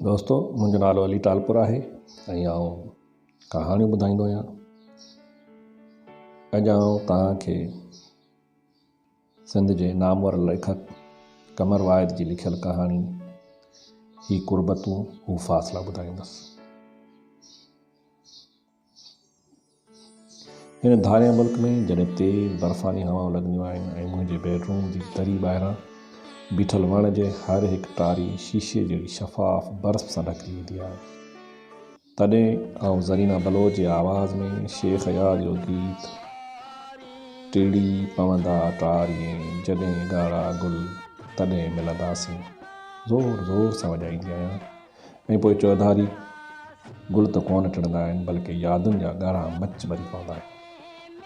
دوستو منهنجو نالو علي ٽالپر آهي ۽ آئون ڪهاڻيون ٻڌائيندو آهيان اڄ آئون توهان کي سنڌ جي نامور ليکڪ قمر واحد جي لکيل ڪهاڻي هي قربتون هو فاصلا ٻڌائيندس هن ڌارئين ملڪ ۾ جڏهن تيز برفاني هوائون لڳنديون آهن ۽ منهنجي بيڊروم جي دري ٻاهران بيٺل وڻ جي هر هڪ ٽاري شيشي جهڙي شفاف برف سان ڍڪجي ويندي آهي تڏهن آئون زرينا بلوچ جي آواز ۾ شيخ اياز جو گيت ٽڙي پوندا ٽارين جڏهن ڳاڙها گل تڏهن ملنداسين زور زور سان وڄائيندي آهيان ۽ پوء چوڌاري گل ته ڪونه ٽڙندا آهن بلڪه يادن جا ڳاڙها مچ ٻري پوندا آهن.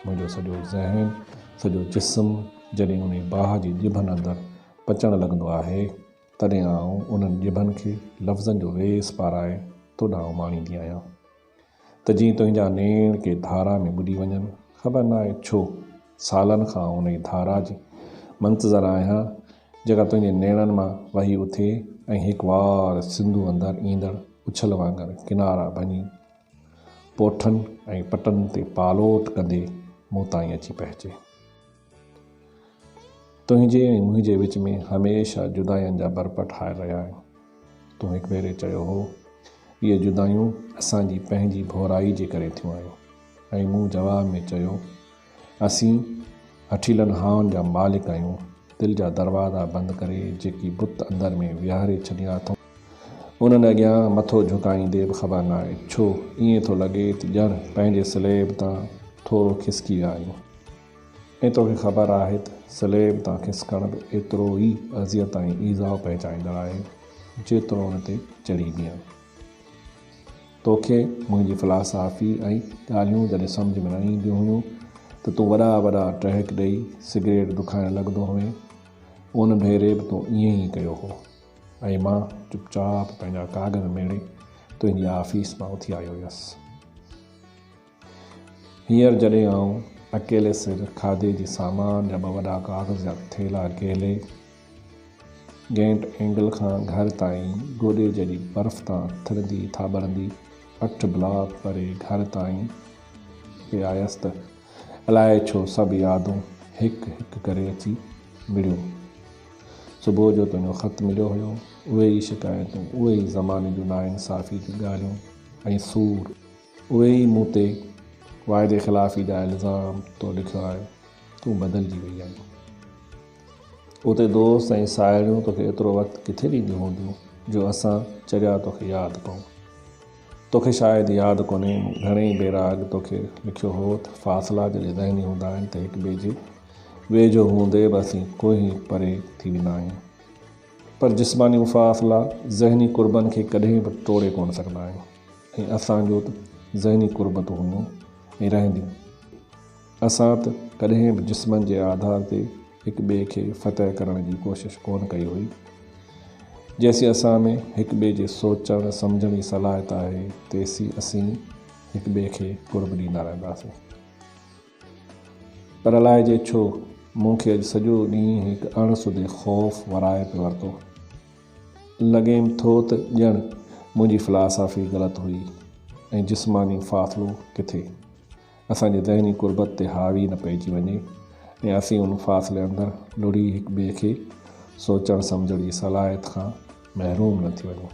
منهنجو سڄو ذهن، سڄو جسم جڏهن انهي باهه جي ڄڀن اندر پچڻ لڳندو آهي تڏهن آئون انهن ڄڀن کي لفظن جو ويس پارائي تو ڏانهن اماڻيندي آهيان. ته جيئن تنهنجا نيڻ ڪنهن ڌارا ۾ ٻڏي وڃن. خبر ناهي ڇو سالن کان آئون انهيء ڌارا جي منتظر آهيان، جيڪا تنهنجي نيڻن مان وهي اٿي ۽ هڪ وار سنڌو اندر ايندڙ اڇل وانگر ڪنارا ڀڃي، پوٺن ۽ پٽن تي پالوٽ ڪندي مون تائين اچي پهچي. تنهنجي ۽ منهنجي وچ ۾ هميشه جداين جا برپا ٺاهي رهيا آهيون. تون هڪ ڀيري چيو هو، اهي جدايون اسان جي پنهنجي ڀورائي جي ڪري ٿيون آهن ۽ مون جواب ۾ چيو، اسين هٺيلن هائن جا مالڪ آهيون، دل جا دروازا بند ڪري جيڪي بت اندر ۾ ويهاري ڇڏيا اٿئون، انهن اڳيان مٿو جهڪائيندي به خبر ناهي ڇو ائين ٿو لڳي ته ڄڻ پنهنجي سليب تان ٿورو کسڪي ويا آهيون. ۽ توکي خبر آهي ته سليب تان کسڪڻ به ايترو ئي اذيت ۽ ايذاء پهچائيندڙ آهي، جيترو ان تي چڙهي بيهڻ. توکي منهنجي فلاسافي ۽ ڳالهيون جڏهن سمجهه ۾ نه اينديون هيون ته تون وڏا وڏا ٽهڪ ڏيئي سگريٽ دکائڻ لڳندو هئين. ان ڀيري به تون ائين ئي ڪيو هو ۽ مان چپ چاپ پنهنجا ڪاڳر ميڙي تنهنجي آفيس مان اٿي آيو هيس. هينئر جڏهن آئون اڪيلي سر کاڌي جي سامان جا ٻه وڏا ڪاغذ جا ٿيلها ڪيلي گينٽ اينگل کان گهر تائين گوڏي جيڏي برف تان ٿرندي ٿاٻرندي اٺ بلاڪ پري گهر تائين پئي آيس ته الائي ڇو سڀ يادون هڪ هڪ ڪري اچي مڙيون. صبح جو تنهنجو خط مليو هيو، اهي ئي شڪايتون، اهي ئي زماني جون ناانصافي جون ڳالهيون ۽ سور، اهي ئي مون تي واعدي خلافي جا الزام تو لکيو آهي، تون بدلجي وئي آهين. اتي دوست ۽ ساهيڙيون توکي ايترو وقت ڪٿي ڏينديون هونديون جو اسان چريا توکي ياد پئون. توکي شايد ياد ڪونهي مون گهڻيئي ڀيرا اڳ توکي لکيو هو ته فاصلا جڏهن ذهني هوندا آهن ته هڪٻئي جي ويجهو هوندي به اسين ڪوهين پري ٿي ويندا آهيون. پر جسماني فاصلا ذهني قربن کي ڪڏهن به ٽوڙي ڪونه سگهندا آهن. هي اسان جو ته ذهني قربتون هيون ۽ رهنديون. اسان ته ڪڏهن به جسمن جي آڌار تي هڪ ٻئي کي فتح ڪرڻ جي ڪوشش ڪونه ڪئي هئي. جيسين اسان ۾ هڪ ٻئي جي سوچڻ سمجهڻ جي صلاحيت آهي، تيسين اسين هڪ ٻئي کي قرب ڏيندا رهنداسين. پر الائي جي ڇو مون کي اڄ سڄو ڏينهن هڪ اڻ سڌي خوف ورائي پيو ورتو. لڳيم ٿو ته ڄڻ منهنجي فلاسافي غلط هئي ۽ جسماني فاصلو ڪٿي اسان جي ذهني قربت تي حاوي نه پئجي وڃي ۽ اسين ان فاصلي اندر لڙهي هڪ ٻئي کي سوچڻ سمجهڻ جي صلاحيت کان محروم نه ٿي وڃون.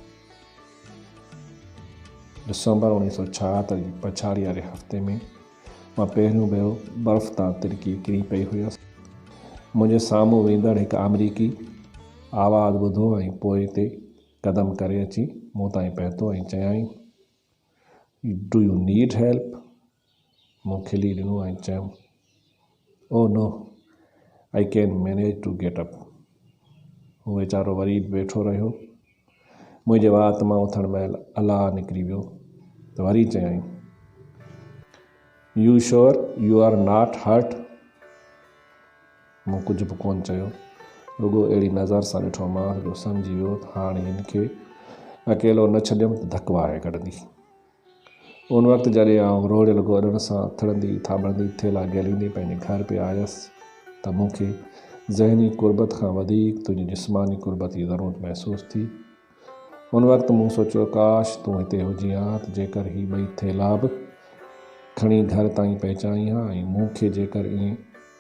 ڊسمبر اوڻيهه سؤ ڇاهتر جي پڇاڙي واري هفتي ۾، مان پهريون ڀيرو برف تان ترڪي ڪري پئي هيس. منهنجي سامهون ويندڙ هڪ آمريڪي آواز ٻڌو ۽ پوئتي قدم ڪري اچي مون تائين پهتو ۽ چيائين، ڊو يو نيڊ هيلپ؟ مون کلي ڏنو ۽ چيم. Oh no I can manage to get up هو ويچارو وري به ويٺو رهيو. منهنجي وات مان اٿڻ مهل الاهه نڪري ويو ته وري چيائين you sure you are not hurt? مون ڪجهه به ڪونه چيو رڳو اهڙي نظر سان ڏٺومانس جو سمجهي ويو ته هاڻي هن کي اڪيلو نه ڇڏيم ته ڌڪ وهائي ڪڍندي. ان وقت جڏهن آئون روڄ رڳو اڏڻ سان اٿڙندي ٿاٻڙندي ٿيلها گهليندي پنهنجي گهر پئي آيس ته مون کي ذهني قربت کان وڌيڪ تنهنجي جسماني قربت جي ضرورت محسوس ٿي. ان وقت مون سوچيو ڪاش تون هتي هجين ها ته جيڪر هي ٻئي ٿيلها به کڻي گهر تائين پهچائين ها ۽ مون کي جيڪر ائين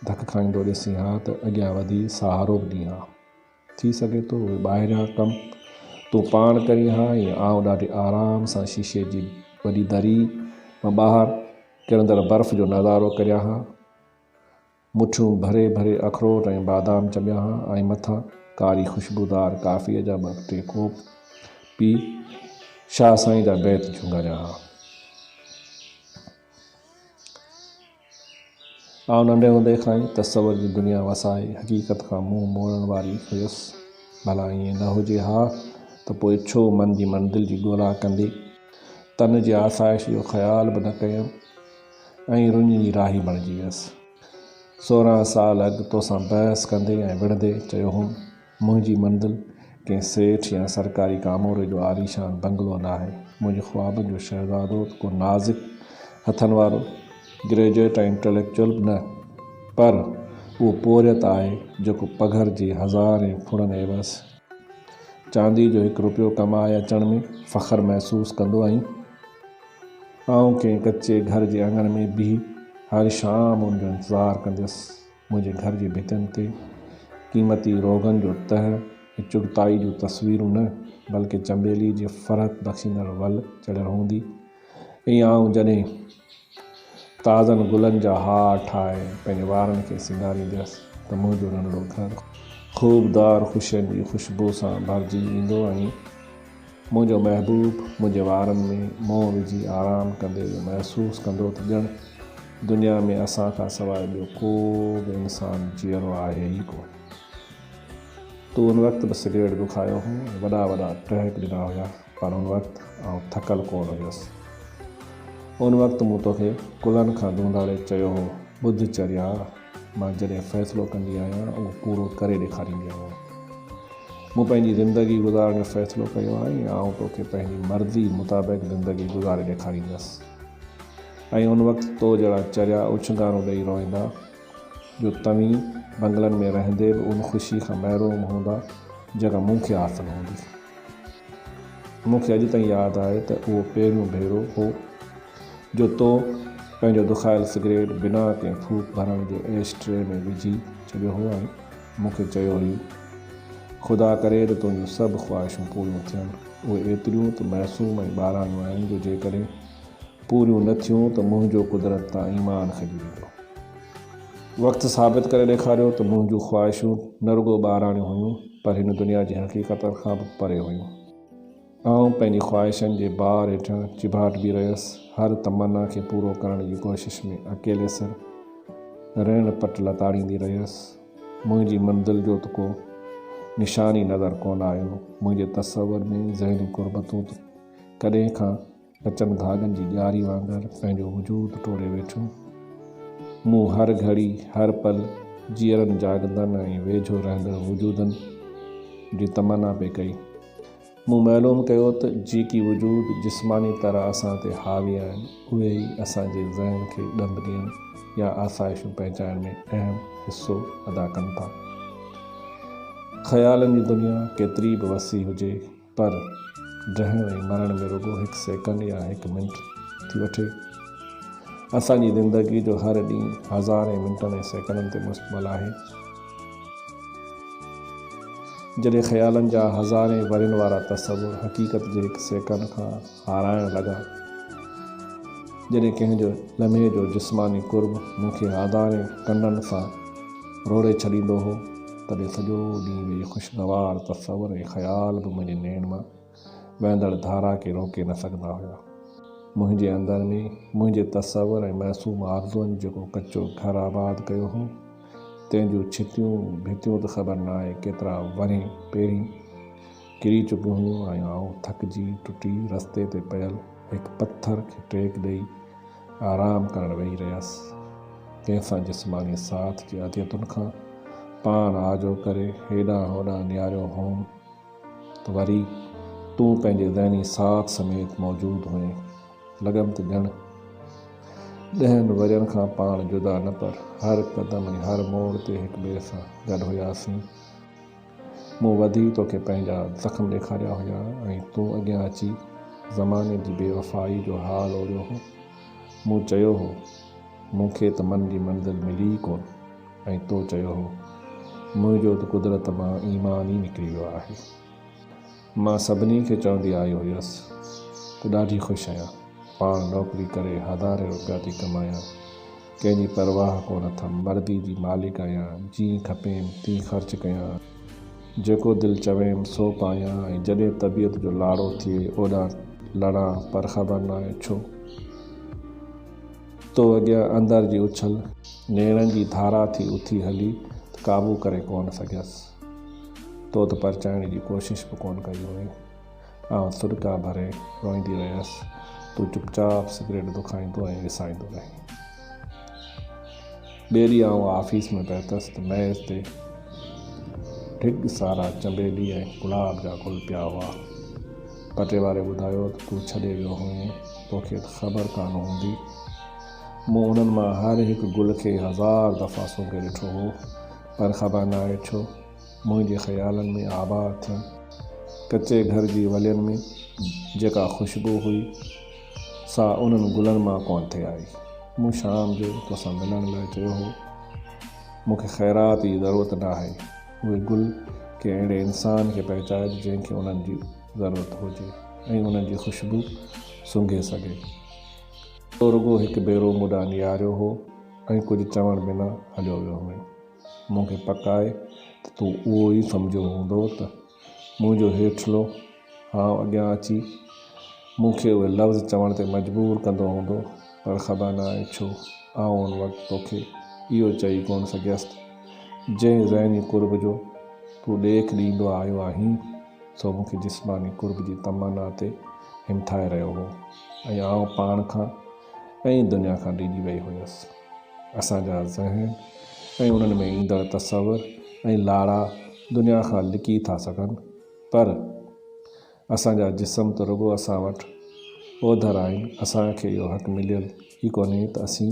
ڌڪ کائيندو ڏسين ها ته اڳيان وڌي سهارو به ڏين ها. ٿي سگهي ٿو اهي ٻاهريان ڪم تون پاڻ ڪرين ها ۽ آئون ڏاڍي آرام سان شيشي جي وڏي دري مان ٻاهر ڪرندڙ برف جو نظارو ڪريان ها. مٺيون ڀري ڀري اخروٽ ۽ بادام چٻيان ها ۽ مٿان ڪاري خوشبودار ڪافيء جا ٻه ٽي ڪوپ پي شاهه سائين جا بيت جهونگاريان ها. آئون ننڍي هوندي کان ئي تصور جي دنيا وسائي حقيقت کان منهن موڙڻ واري هيس. ڀلا ائين نه هجي ها ته پوء ڇو من جي منزل جي ڳولا ڪندي تن جي آسائش جو خيال به نه ڪيم ۽ رڃ جي راهي بڻجي ويس. سورهن سال اڳ توسان بحث ڪندي ۽ وڙهندي چيو هوم منهنجي منزل ڪنهن سيٺ يا سرڪاري ڪاموري جو عاليشان بنگلو ناهي. منهنجي خوابن جو شهزادو ته ڪو نازڪ هٿن وارو گريجوئيٽ ۽ انٽليڪچوئل به نه، پر اهو پورهيت آهي، جيڪو پگهر جي هزارين ڦڙن عيوض چانديء جو هڪ رپيو ڪمائي اچڻ ۾ فخر محسوس ڪندو ۽ آئون ڪنهن ڪچي گهر جي اڱڻ ۾ بيهي هر شام ان جو انتظار ڪنديس منهنجي گهر جي ڀتين تي قيمتي روغن جو تهه ۽ چغتائي جون تصويرون نه بلڪه چنبيلي جي فرحت بخشيندڙ ول چڙهيل هوندي ۽ آئون جڏهن تازن گلن جا هار ٺاهي پنهنجي وارن کي سينگاريندي هيس ته منهنجو ننڍڙو گهر خوبدار خوشين جي خوشبو سان ڀرجي ويندو ۽ منهنجو محبوب منهنجي وارن ۾ منهن وجهي آرام ڪندي اهو محسوس ڪندو ته ڄڻ دنيا ۾ اسان کان سواء ٻيو ڪو به انسان جيئرو آهي ئي ڪونه. تو ان وقت به سگريٽ دکايو هو ۽ وڏا وڏا ٽهڪ ڏنا هيا پر ان وقت آئون ٿڪل ڪونه هيس. ان وقت مون توکي ڪلهن کان ڌونڌاڙي چيو هو، ٻڌ چريا! مان جڏهن فيصلو ڪندي آهيان اهو پورو ڪري ڏيکاريندي آهيان. مون پنهنجي زندگي گذارڻ جو فيصلو ڪيو آهي ۽ آئون توکي پنهنجي مرضي مطابق زندگي گذاري ڏيکاريندس ۽ ان وقت تو جهڙا چريا اڇنگارون ڏئي روئيندا جو توهين بنگلن ۾ رهندي به ان خوشي کان محروم هوندا جيڪا مون کي حاصل هوندي. مون کي اڄ تائين ياد آهي ته اهو پهريون ڀيرو هو جو تو پنهنجو دکايل سگريٽ بنا ڪنهن ڦوڪ ڀرڻ جي ايش ٽري ۾ وجهي ڇڏيو هو ۽ مون کي چيو هئي، خدا ڪري ته تنهنجون سڀ خواهشون پوريون ٿين. اهي ايتريون ته معصوم ۽ ٻاراڻيون آهن جو جيڪڏهن پوريون نه ٿيون ته منهنجو قدرت تان ايمان کڄي ويندو. وقت ثابت ڪري ڏيکاريو ته منهنجون خواهشون نه رڳو ٻاهراڻيون هيون پر هن دنيا جي حقيقتن کان به پري هيون. آئون پنهنجي خواهشن جي بار هيٺان چيڀاٽبي رهيس، هر تمنا کي پورو ڪرڻ جي ڪوشش ۾ اڪيلي سر ريڻ پٽ لتاڙيندي رهيس. منهنجي منزل جو ته ڪو نشان ئي نظر ڪونه آيو. منهنجي تصور ۾ ذهني قربتون ته ڪڏهن کان ڪچن ڌاڳن جي ڄاري وانگر پنهنجو وجود ٽوڙي ويٺو. مون هر گهڙي، هر پل جيئرن جاڳندڙن ۽ ويجهو رهندڙ وجودن جي تمنا پئي ڪئي. مون معلوم ڪيو ته جيڪي وجود جسماني طرح اسان تي حاوي آهن، اهي ئي اسان جي ذهن کي ڏند ڏيڻ يا آسائشون پهچائڻ ۾ اهم حصو ادا ڪن ٿا. خيالن جي دنيا ڪيتري به وسيع هجي، پر جهڻ ۽ مرڻ ۾ رڳو هڪ سيڪنڊ يا هڪ منٽ ٿي وٺي. اسان جي زندگيء جو هر ڏينهن هزارين منٽن ۽ سيڪنڊن تي مشتمل آهي. جڏهن خيالن جا هزارين ورهين وارا تصور حقيقت جي هڪ سيڪنڊ کان هارائڻ لڳا، جڏهن ڪنهن جو لمحي جو جسماني قرب مون کي هزارين ڪنڊن سان روڙي ڇڏيندو هو، تڏهن سڄو ڏينهن ويهي خوشگوار تصور ۽ خيال به منهنجي نيڻ مان وهندڙ ڌارا کي روڪي نه سگهندا هيا. منهنجي اندر ۾ منهنجي تصور ۽ معصوم آرزوئن جيڪو ڪچو گهر آباد ڪيو هو، تنهن جون ڇتيون ڀتيون ته خبر نه آهي ڪيترا ورهين پهرين ڪري چڪيون هيون ۽ آئون ٿڪجي ٽٽي رستي تي پيل هڪ پٿر کي ٽيڪ ڏئي آرام ڪرڻ ويهي رهيس. تنهن سان جسماني ساٿ جي اذيتن کان پاڻ آجو ڪري هيڏانهن هوڏانهن نهاريو هوم ته وري تون پنهنجي ذهني ساٿ سميت موجود هئين. لڳم ته ڄڻ ڏهن ورهين کان پاڻ جدا نه پر هر قدم ۽ هر موڙ تي هڪٻئي سان گڏ هياسين. مون وڌي توکي پنهنجا زخم ڏيکاريا هيا ۽ تون اڳيان اچي زماني جي بي وفائي جو حال اوريو هو. مون چيو هو، مون کي ته من جي منزل ملي ئي ڪونه ۽ تو چيو هو، منهنجو ته قدرت مان ايمان ئي نڪري ويو آهي. مان سڀني کي چوندي آئي هيس ته ڏاڍي خوش آهيان. پاڻ نوڪري ڪري هزارين روپيا ٿي ڪمايان. ڪنهن جي پرواهه ڪونه اٿم. مردي جي مالڪ آهيان. جيئن کپيم تيئن خرچ ڪيان. جيڪو دل چويم سو پايان ۽ جڏهن طبيعت جو لاڙو ٿئي اوڏانهن لڙان پر خبر ناهي ڇو تو اڳيان اندر جي اڇل نيڻن جي ڌارا ٿي اٿي هلي ته قابو ڪري ڪونه سگهيس. تو ته پرچائڻ جي ڪوشش به ڪونه ڪئي هئي. آئون سڏڪا ڀري روئيندي رهيس. تون چپ چاپ سگريٽ دکائيندو ۽ وسائيندو رهين. ٻئي ڏينهن آئون آفيس ۾ پهتس ته ميز تي ڍڳ سارا چنبيلي ۽ گلاب جا گل پيا هئا. پٽي واري ٻڌايو ته تون ڇڏي ويو هئين، توکي ته خبر ڪانه هوندي. مون انهن مان هر هڪ گل کي هزار دفعا سونگهي ڏٺو هو. پر خبر ناهي ڇو منهنجي خيالن ۾ آبا اٿيون. ڪچي گهر جي ولين ۾ جيڪا خوشبو هئي، سا انهن گلن مان ڪونه ٿي آئي. مون شام جو توسان ملڻ لاء چيو هو. مون کي خيرات جي ضرورت ناهي. اهي گل ڪنهن اهڙي انسان کي پهچائج جنهن کي انهن جي ضرورت هجي ۽ انهن جي خوشبو سونگهي سگهي. تو رڳو هڪ ڀيرو مون ڏانهن نهاريو هو. ۽ ڪجهه چوڻ بنا هليو ويو هئين. مون کي پڪ آهي ته تون اهو ئي سمجهيو هوندو ته منهنجو هيٺلو هانء اڳيان اچي مون کي اهي لفظ چوڻ تي مجبور ڪندو هوندو، پر خبر نه آهي ڇو آئون ان وقت توکي اهو چئي ڪونه سگهيس ته جنهن ذهني قرب جو تون ڏيک ڏيندو آيو آهين، سو مون کي جسماني قرب جي تمنا تي همٿائي رهيو هو ۽ آئون پاڻ کان ۽ دنيا کان ڊيڄي وئي هيس. اسان جا ذهن ۽ انهن ۾ ايندڙ تصور ۽ لاڙا دنيا کان لڪي ٿا سگهن پر اسان جا جسم ته رڳو اسان وٽ اوڌر آهن، اسان کي اهو حق مليل ئي ڪونهي ته اسين.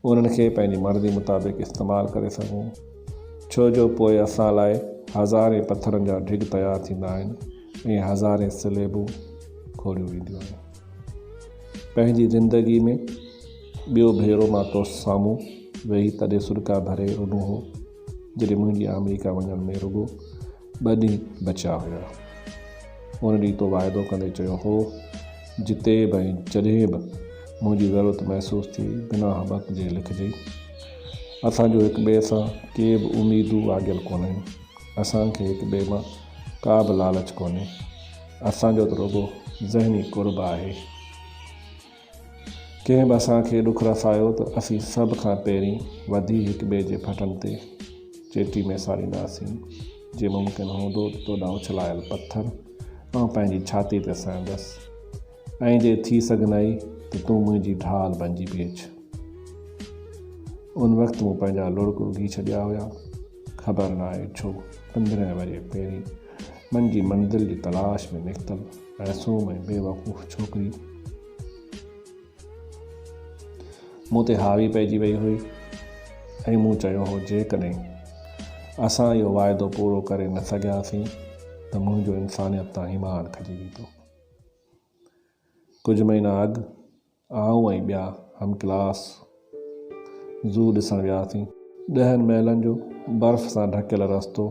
انهن کي پنهنجي مرضي مطابق استعمال ڪري سگهون ڇو جو پوء اسان لاء هزارين پٿرن جا ڍڳ تيار ٿيندا آهن ۽ هزارين سليبون کوڙيون وينديون آهن پنهنجي زندگي ۾ ٻيو ڀيرو مان تو سامهون ويهي تڏهن سڏڪا ڀري رڏون هو جڏهن منهنجي آمريڪا وڃڻ ۾ رڳو ٻه ڏينهن بچيا هيا. ان ڏينهن تو واعدو ڪندي چيو هو، جتي به ۽ جڏهن به منهنجي ضرورت محسوس ٿي، بنا هٻڪ جي لکجي. اسان جون هڪ ٻئي سان ڪي به اميدون آگيل ڪونهن. اسان کي هڪ ٻئي مان ڪا به لالچ ڪونهي. اسان جو ته رڳو ذهني قرب آهي. ڪنهن به اسان کي ڏک رسايو ته اسين سڀ کان پهرين وڌي هڪ ٻئي جي ڦٽن تي چيٽي ميسارينداسين، جي ممڪن هوندو ته تو ڏانهن اڇلايل پٿر آئون پنهنجي ڇاتي تي سهندس ۽ جي ٿي سگهنائي ته تون منهنجي ڍال بنجي بيهج. ان وقت مون پنهنجا لڙڪ اگهي ڇڏيا هيا. خبر ناهي ڇو پندرهن ورهيه پهرين من جي منزل جي تلاش ۾ نڪتل. معصوم ۽ بي وقوف ڇوڪري مون تي حاوي پئجي وئي هئي ۽ مون چيو هو جيڪڏهن اسان اهو واعدو پورو ڪري نه سگهياسين ته منهنجو انسانيت تان ايمان کڄي ويندو. ڪجهه مهينا اڳ آئون ۽ ٻيا هم ڪلاس زو ڏسڻ وياسين. ڏهن ميلن جو برف سان ڍڪيل رستو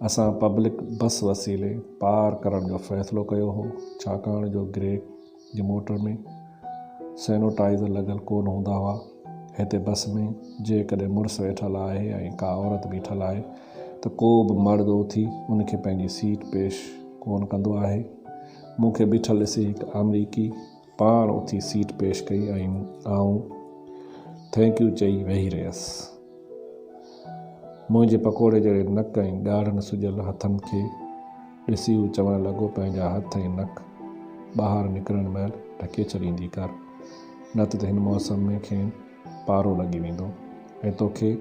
اسان پبلڪ بس وسيلي پار ڪرڻ جو فيصلو ڪيو هو، ڇاڪاڻ جو گريگ جي موٽر ۾ سينوٽائيزر لڳل ڪونه هوندا هئا. هتي بس ۾ جيڪڏهن مڙس ويٺل آهي ۽ ڪا عورت بيٺل آهي ته ڪو به مرد اٿي ان کي پنهنجي سيٽ پيش ڪونه ڪندو آهي. مون کي بيٺل ڏسي هڪ آمريڪي. پاڻ اٿي سيٽ پيش ڪئي ۽ آئون ٿينڪ يو چئي ويهي رهيس. منهنجي پڪوڙي جهڙي نڪ ۽ ڳاڙهن سجيل هٿن کي ڏسي هو چوڻ لڳو پنهنجا هٿ ۽ نڪ ٻاهر نڪرڻ مهل ڍڪي ڇڏيندي ڪر نه ته هن موسم ۾ کين پارو لڳي ويندو ۽ توکي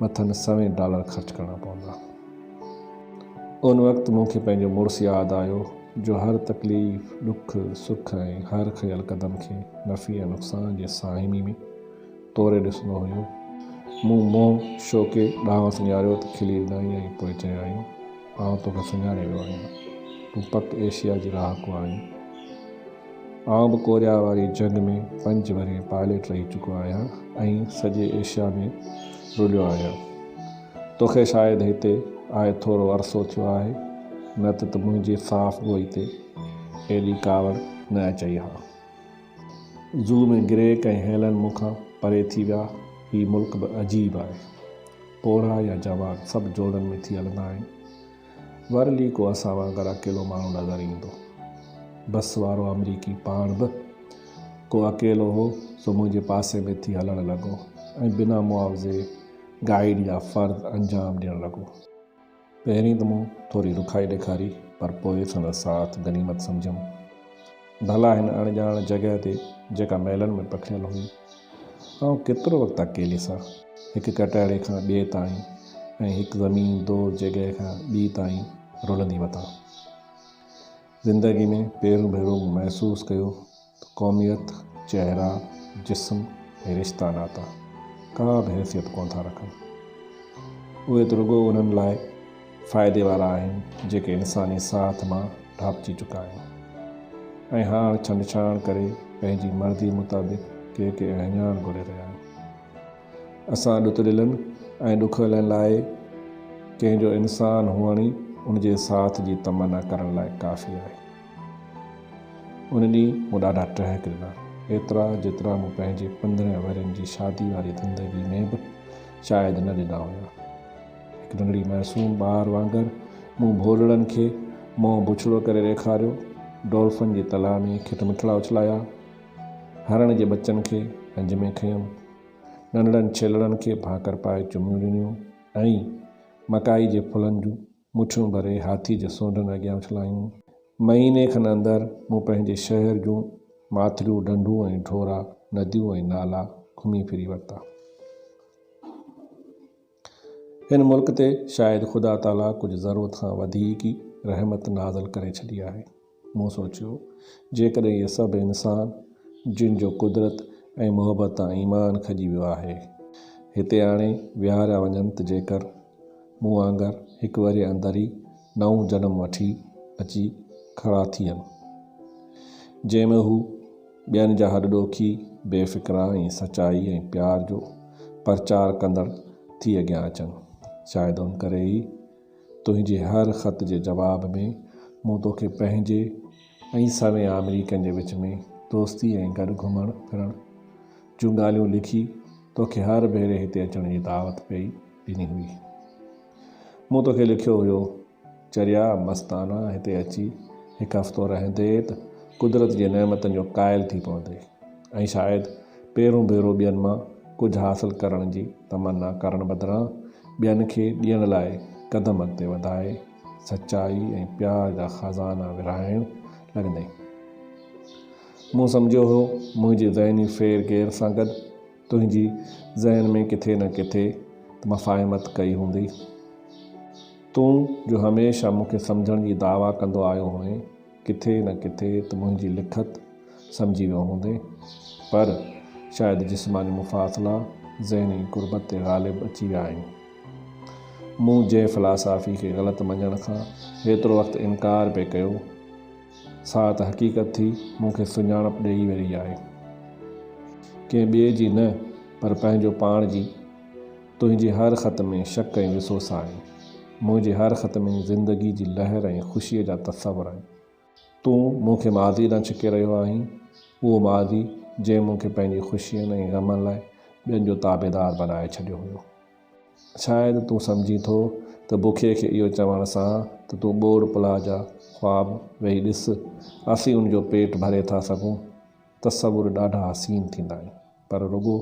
مٿن سوين ڊالر خرچ ڪرڻا پوندا. ان وقت مون کي پنهنجو مڙس ياد آيو جو هر تڪليف، ڏک، سک ۽ هر کنيل قدم کي نفعي ۽ نقصان جي ساهمي ۾ توري ڏسندو هيو. مون منهن شوڪي ڏانهن سڃاريو ته کلي اڏايائين ۽ پوء چيائين، آئون توکي سڃاڻي ويو آهيان. تون پڪ ايشيا جي رهاڪو آهين. آئون به ڪوريا واري جنگ ۾ پنج ورهيه پائليٽ رهي چڪو آهيان ۽ سڄي ايشيا ۾ رليو آهيان. توکي شايد هتي آئي ٿورو عرصو ٿيو آهي، نه ته ته منهنجي صاف گوئي تي ايڏي ڪاوڙ نه اچئي ها. زو ۾ گريڪ ۽ هيلن مون کان پري ٿي ويا. هي ملڪ به عجيب آهي. پوڙها يا جوان سڀ جوڙن ۾ ٿي هلندا آهن. ورلي ڪو اسان وانگر اڪيلو ماڻهو نظر ايندو. بس وارو آمريڪي پاڻ به ڪو اڪيلو هو، سو منهنجي پاسي ۾ ٿي هلڻ لڳو ۽ بنا معاوضي گائيڊ جا فرض انجام ڏيڻ لڳو. پهرين ته مون ٿوري رکائي ڏيکاري پر پوء سندس ساٿ غنيمت سمجهيم. ڀلا هن اڻڄاڻ جڳهه تي جيڪا محلن ۾ پکڙيل هئي، آئون ڪيترو وقت اڪيلي سان، هڪ ڪٽهڙي کان ٻئي تائين ۽ هڪ زمين دور جڳهه کان ٻي تائين رلندي وتان. زندگي ۾ پهريون ڀيرو مون محسوس ڪيو ته قوميت، چهرا، جسم ۽ رشتا ناتا ڪا به حيثيت ڪونه ٿا رکن. اهي ته رڳو انهن لاء. فائدي وارا آهن جيڪي انساني ساهت مان ڍاپجي چڪا آهن ۽ هاڻ ڇنڊڇاڻ ڪري پنهنجي مرضي مطابق ڪي ڪي اهڃاڻ گهري رهيا آهن. اسان ڏتڙيلن ۽ ڏکويلن لاء ڪنهن جو انسان هئڻ ئي ان جي ساٿ جي تمنا ڪرڻ لاء ڪافي آهي. ان ڏينهن مون ڏاڍا ٽهڪ ڏنا ايترا جيترا مون پنهنجي پندرهن ورهين جي شادي واري زندگي ۾ به شايد نه ڏنا هيا. هڪ ننڍڙي معصوم ٻار وانگر مون ڀولڙن کي منهن بڇڙو ڪري ڏيکاريو. ڊولفن جي تلاء ۾ کٽ مٺڙا اڇلايا. هرڻ جي ٻچن کي پنج ۾ کنيم. ننڍڙن ڇيلڙن کي ڀاڪر پائي چميون ڏنيون ۽ مڪائي جي ڦلن جون مٺيون ڀري هاٿي جي سونڍن اڳيان اڇلايون. مهيني کن اندر مون پنهنجي شهر جون ماٿريون ڍنڍون ۽ ڍورا، نديون ۽ نالا گهمي ڦري ورتا. هن ملڪ تي شايد خدا تعاليٰ ڪجهه ضرورت کان وڌيڪ ئي رحمت نازل ڪري ڇڏي آهي. مون سوچيو، جيڪڏهن اهي سڀ انسان، جن جو قدرت ۽ محبت تان ايمان کڄي ويو آهي، هتي آڻي ويهاريا وڃن ته جيڪر مون وانگر هڪ ورهيه اندر ئي نئون جنم وٺي اچي کڙا ٿين، جنهن ۾ هو. ٻين جا هڏ ڏوکي، بي فڪرا ۽ سچائي ۽ پيار جو پرچار ڪندڙ ٿي اڳيان اچن. شايد ان ڪري ئي تنهنجي هر خط جي جواب ۾ مون توکي پنهنجي ۽ سوين آمريڪين جي وچ ۾ دوستي ۽ گڏ گهمڻ ڦرڻ جون ڳالهيون لکي توکي هر ڀيري هتي اچڻ جي دعوت پئي ڏني هئي. مون توکي لکيو هيو چريا مستانه هتي اچي هڪ هفتو رهندي ته قدرت جي نعمتن جو قائل ٿي پوندي ۽ شايد پهرون ڀيرو ٻين مان ڪجهه حاصل ڪرڻ جي تمنا ڪرڻ بدران ٻين کي ڏيڻ لاء قدم اڳتي وڌائي سچائي ۽ پيار جا خزانا ورهائڻ لڳندي. مون سمجهيو هو منهنجي ذهني ڦير گهير سان گڏ تنهنجي ذهن ۾ ڪٿي نه ڪٿي ته مفاهمت ڪئي هوندي. تون جو هميشه مون کي سمجهڻ جي دعويٰ ڪندو آيو هئين، ڪٿي نه ڪٿي ته منهنجي لکت سمجهي ويو هوندين. پر شايد جسماني مفاصلا ذهني قربت تي غالب اچي ويا آهن. مون جي فلاسافي کي غلط مڃڻ کان هيترو وقت انڪار پئي ڪيو. سا ته حقيقت ٿي مون کي سڃاڻپ ڏيئي رهي آهي. ڪنهن ٻئي جي نه پر پنهنجو پاڻ جي. تنهنجي هر خط ۾ شڪ ۽ وسوس آهن. منهنجي هر خط ۾ زندگي جي لهر ۽ خوشيء جا تصور آهن. تون مون کي ماضيء ڏانهن ڇڪي رهيو آهين، اهو ماضي جنهن مون کي پنهنجي خوشين ۽ غمن لاء ٻين جو تابعدار بنائي ڇڏيو هيو. شايد تون سمجهين ٿو ته بکي کي اهو چوڻ سان ته تون ٻوڙ پلاء جا خواب ويهي ڏس، اسين ان جو پيٽ ڀري ٿا سگهون. تصور ڏاڍا حسين ٿيندا آهن، پر رڳو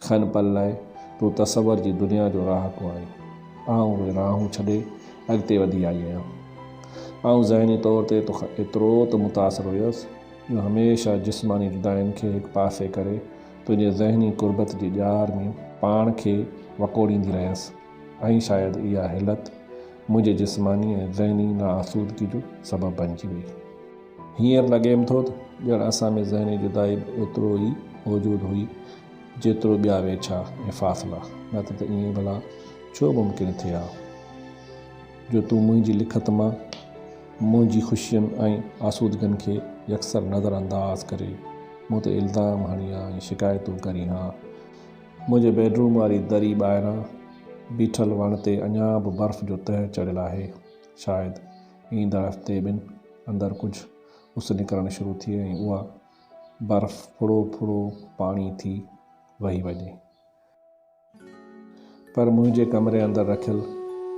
کن پل لاء تون تصور جي دنيا جو رهاڪو آهين. آئون اهي راهون ڇڏي اڳتي وڌي آئي آهيان. آئون ذهني طور تي توکان ايترو ته متاثر هيس، جو هميشه جسماني جداين کي هڪ پاسي ڪري، تنهنجي ذهني قربت جي ڄار ۾ پاڻ کي وڪوڙيندي رهيس ۽ شايد اها حلت منهنجي جسماني ۽ ذهني ناآسودگي جو سبب بنجي وئي. هينئر لڳيم ٿو ته ڄڻ اسان ۾ ذهني جدائي به ايترو ئي موجود هئي جيترو ٻيا ويڇا ۽ فاصلا، نه ته ته ائين ڀلا ڇو ممڪن ٿئي ها جو تون منهنجي لکت مان، منهنجي خوشين ۽ آسودگين کي يڪسر نظر انداز ڪري مون تي الزام هڻي ها ۽ شڪايتون ڪري ها. منهنجي بيڊروم واري دري ٻاهران بيٺل وڻ تي اڃا به برف جو تهه چڙهيل آهي. شايد ايندڙ هفتي ٻن اندر ڪجهه اس نڪرڻ شروع ٿئي ۽ اها برف ڦڙو ڦڙو پاڻي ٿي وهي وڃي. پر منهنجي ڪمري اندر رکيل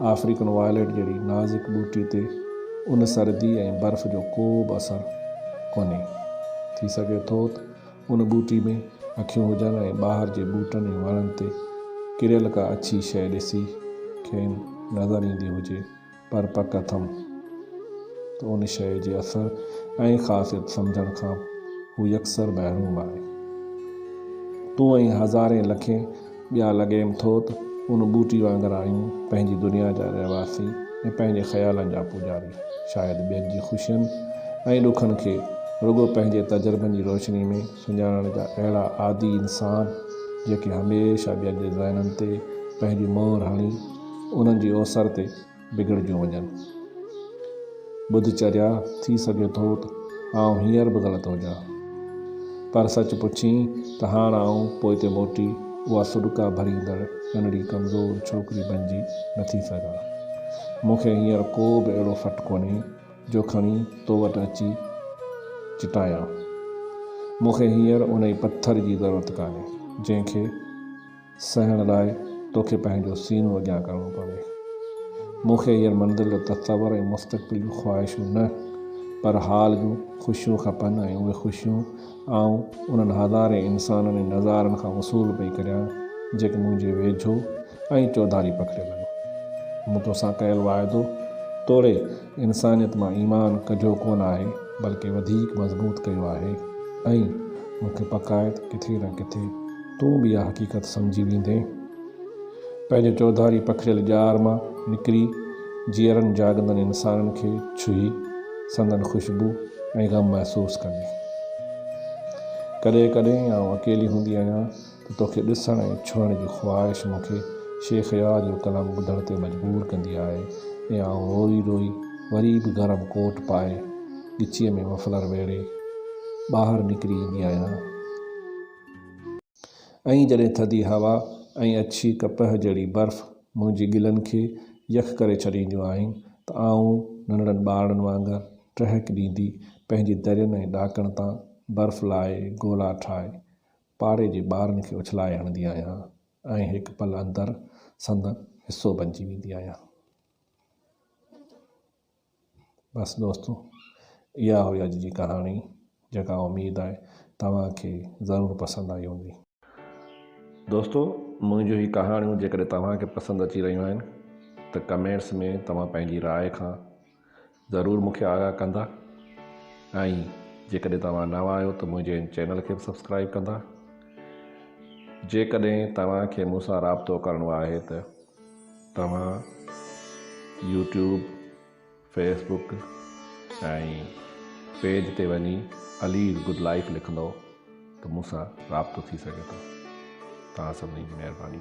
آفريڪن وائليٽ جهڙي نازڪ ٻوٽي تي ان سردي ۽ برف جو ڪو به اثر ڪونهي. ٿي سگهي ٿو ته ان ٻوٽي ۾ اکيون هجن ۽ ٻاهر جي ٻوٽن ۽ وڻن تي ڪريل ڪا اڇي شيء ڏسي کين نظر ايندي هجي پر پڪ اٿم ته ان شيء جي اثر ۽ خاصيت سمجهڻ کان هو يڪسر محروم آهي. تون ۽ هزارين لکين ٻيا لڳيم ٿو ته ان ٻوٽي وانگر آهيون، پنهنجي دنيا جا رهواسي ۽ پنهنجي خيالن جا پوڄاري. شايد ٻين جي خوشين ۽ ڏکن کي رڳو پنهنجي تجربن جي روشني ۾، سڃاڻڻ جا اهڙا عادي انسان جيڪي هميشه ٻين جي ذهنن تي پنهنجي مهر هڻي انهن جي اوسر تي بگڙجيون وڃن. ٻڌ چريا ٿي سگهي ٿو ته آئون هينئر به غلط هجان. پر سچ پڇين ته هاڻ آئون پوئتي موٽي اها سڏڪا ڀريندڙ ننڍڙي ڪمزور ڇوڪري بنجي نٿي سگهان. مون کي هينئر ڪو به اهڙو ڦٽ ڪونهي جو کڻي تو وٽ اچي چٽايان. مون کي هينئر انهي پٿر جي ضرورت ڪانهي، جنهن کي سهڻ لاء توکي پنهنجو سينو اڳيان ڪرڻو پوي. مون کي هينئر منزل جو تصور ۽ مستقبل جون خواهشون نه، پر حال جون خوشيون کپن ۽ اهي خوشيون آئون انهن هزارين انسانن ۽ نظارن کان وصول پئي ڪريان، جيڪي منهنجي ويجهو ۽ چوڌاري پکڙيل آهن. مون توسان ڪيل واعدو توڙي انسانيت مان ايمان ڪڍيو ڪونه آهي، بلڪه وڌيڪ مضبوط ڪيو آهي ۽ مون کي پڪ آهي ته ڪٿي نه ڪٿي تون به اها حقيقت سمجهي ويندين. پنهنجي چوڌاري پکڙيل ڄار مان نڪري جيئرن جاڳندڙ انسانن کي ڇهي سندن خوشبو ۽ غم محسوس ڪندي. ڪڏهن ڪڏهن آئون اڪيلي هوندي آهيان ته توکي ڏسڻ ۽ ڇهڻ جي خواهش مون کي شيخ يار جو ڪلام ٻڌڻ تي مجبور ڪندي آهي ۽ آئون روئي روئي وري به گرم ڪوٽ پائي ڳچيء ۾ مفلر ويڙهي ٻاهر نڪري ايندي آهيان. ائين جڏهن ٿڌي هوا ۽ اڇي ڪپهه جهڙي برف منهنجي ڳلن کي يخ ڪري ڇڏينديون آهن ته آئون ننڍڙن ٻارڙن وانگر ٽهڪ ڏيندي پنهنجي درين ۽ ڏاڪڻ تان برف لاهي گولا ٺاهي پاڙي جي ٻارن کي اڇلائي هڻندي آهيان ۽ هڪ پل اندر سندن حصو بنجي ويندي آهيان. بس دوستو اها هئي اڄ جي ڪهاڻي جيڪا اميد آهي توهان کي ضرور پسند آئي هوندي. دوستو منهنجون هي ڪهاڻيون جيڪڏهن توهان کي پسند اچي رهيون آهن ته ڪمينٽس ۾ توهان پنهنجي راء کان ضرور مون کي آگاهه ڪندا ۽ جيڪڏهن توهان نوان آهيو ته منهنجي هن چينل کي به سبسڪرائيب ڪندا جيڪڏهن توهان کي مون سان رابطو ڪرڻو آهي ته توهان يوٽيوب، فيس بوڪ ۽ پيج تي وڃي علي از گڊ لائيف لکندؤ ته مون سان رابطو ٿي سگهي ٿو. توهان سڀني جي مهرباني.